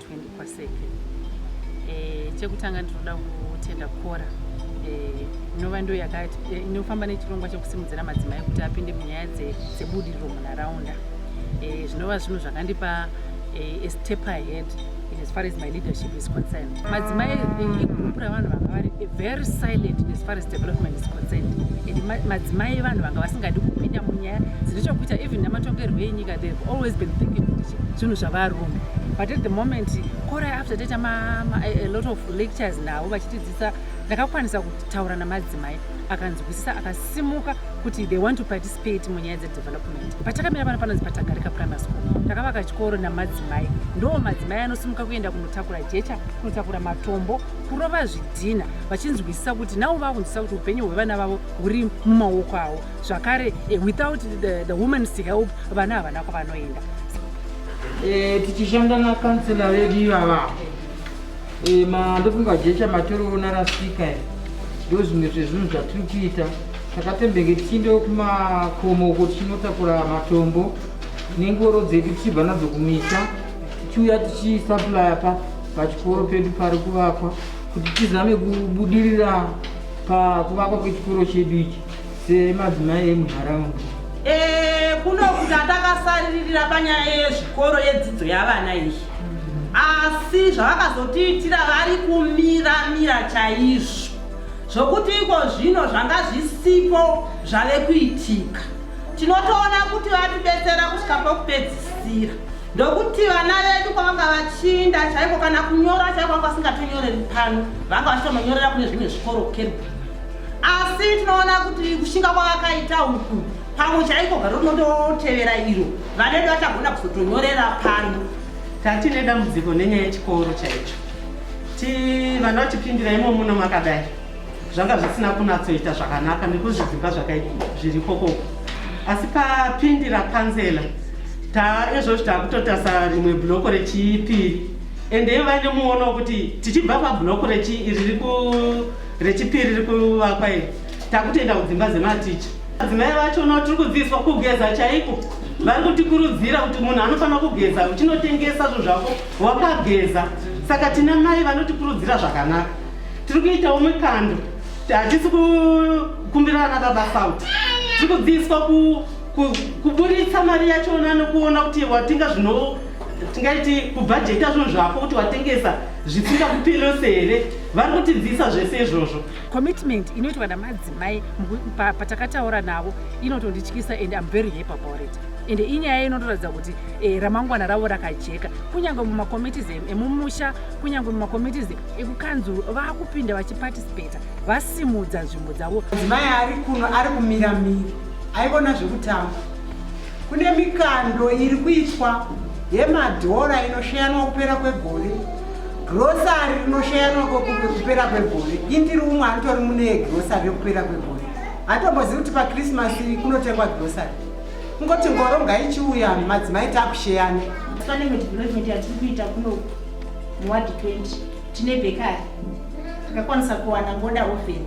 20 kwaseke eh, chekutanga ndinoda kutenda kora eh, inova ndo eh, inofamba nechirongwa chekusimudzira madzimai kuti apinde munyaya dzebudiriro munharaunda eh, zvinova zvinhu zvakandipa eh, step ahead in as far as my leadership is concerned madzimai eh, igurupu ravanhu vanga vari very silent in as far as development is concerned and madzimai vanhu vanga vasingadi kupinda munyaya dzine chokuita even nematongerwo enyika they have always been thinking kuti zvinhu zvavarume but at the moment kora after taita a lot of lectures navo vachitidzisa ndakakwanisa kutaura namadzimai akanzwisisa akasimuka kuti they want to participate munyaya dzedevelopment patakamira pano panonzi patagarika primary school takavaka chikoro namadzimai ndo madzimai anosimuka kuenda kunotakura jecha kunotakura matombo kurova zvidhina vachinzwisisa kuti navo vakunzwisisa kuti upenyu hwevana vavo huri mumaoko avo zvakare eh, without the, the woman's help vana havana kwavanoenda eh, tichishanda nakansela vedu ivava eh, mandofunga jecha matiriona rasika ndo zvimwe zvezvinhu zvatiri kuita takatembenge tichiende kumakomo uko tichinotakura matombo nengoro dzedu tichibva nadzo kumisha tichiuya tichisaplaya pa Pachikoro pedu pari kuvakwa kuti tizame kubudirira pakuvakwa kwechikoro chedu ichi semadzimai emunharaunda. Eh, kunokuta takasaririra panyaya yezvikoro yedzidzo yavana iyi asi zvavakazotiitira vari kumira mira chaizvo zvokuti iko zvino zvanga zvisipo zvave kuitika tinotoona kuti vatibetsera kusvika pokupedzisira ndokuti vana vedu kwavanga vachinda chaiko kana kunyora chaiko vanga vasingatonyoreri pano vanga vachitononyorera kune zvimwe zvikoro keri asi tinoona kuti kushinga kwavakaita uku pamwe chaiko garo rinototevera iro vana vedu vachagona kuzotonyorera pano tatine dambudziko nenyaya yechikoro chaicho ti vana vachipindira imomuno makadai zvanga zvisina kunatsoita zvakanaka nekuzvidzimba zviri kokoko asi papindira kanzela ta izvozvi taakutotasa rimwe bloko rechipiri ende ivo vaine muono wekuti tichibva pabloko rechipiri riri kuvakwa iri takutoenda kudzimba dzematicha adzimai vacho no tiri kudzidziswa kugeza chaiko vari kutikurudzira kuti munhu anofanira kugeza uchinotengesa zvinhu zvako wakageza saka tina mai vanotikurudzira zvakanaka tiri kuitawo mikando hatisi kukumbira ana baba fault tiri kudziiswa kuburitsa mari yachona nokuona kuti watenga zvino tingaiti kubhajeta zvinhu zvako kuti watengesa zvisingakupirirose here vari kutidzisa zvese izvozvo commitment inoitwa namadzimai patakataura navo inotondityisa and im very happy about it and inyaya inotoratidza kuti eh, ramangwana ravo rakajeka kunyange mumakomitis emumusha kunyange mumakomitis ekukanzuru vakupinda vachiparticipata vasimudza nzvimbo dzavo mudzimai ari kuno ari kumira miri aivona zvekutamba kune mikando iri kuitwa yemadhora inosheyanwa kupera kwegore grosari rinosheyanwa kupera kwegore indiri umwe anotori mune grosari rekupera kwegore hatombozivi kuti pakrismasi kunotengwa grosari kungoti ngoro ngaichiuya madzimai takusheyana muwadi 20 tine bekari takakwanisa kuwana ngoda oven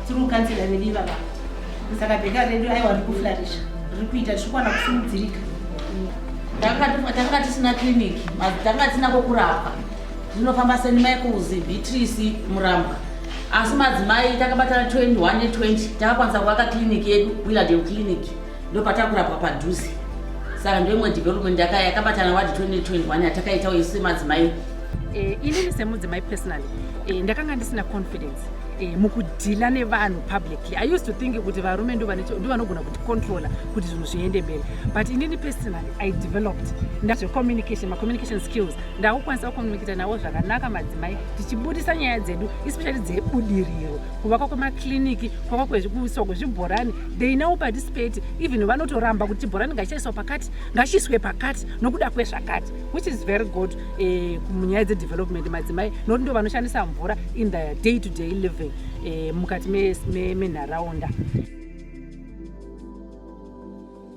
tiri kukansira redu ivava saka bekari redu aiwa riri kuflarisha riri kuita tichikwana kusimudzirika tanga tisina clinic tanga tisina kwokurapwa zvinofamba senimaikuzi beatrice murambwa asi madzimai takabatana 21 ne 20 takakwanisa kuvaka clinic yedu willardale clinic ndopatakurapwa padhuze saka ndoimwe development yaka yakabatana wadi 2021 yatakaitawo isu semadzimai Eh, inini semudzimai personally eh, ndakanga ndisina confidence eh, mukudhila nevanhu publicly i used to think kuti varume ndo vane- ndo vanogona kuti controller kuti zvinhu zviende mberi but inini personally i developed ndazvecommunication macommunication skills ndakukwanisa kucommunicata navo zvakanaka madzimai tichibudisa nyaya dzedu especially dzebudiriro kuvakwa kwemakliniki kwakwa kuiswa kwezvibhorani they now participate even vanotoramba kuti chibhorani ngachichaiswa pakati ngachiiswe pakati nokuda kwezvakati which is very good eh, munyaya dzedevelopment madzimai nokuti ndo vanoshandisa mvura in the day to day living eh, mukati menharaunda me, me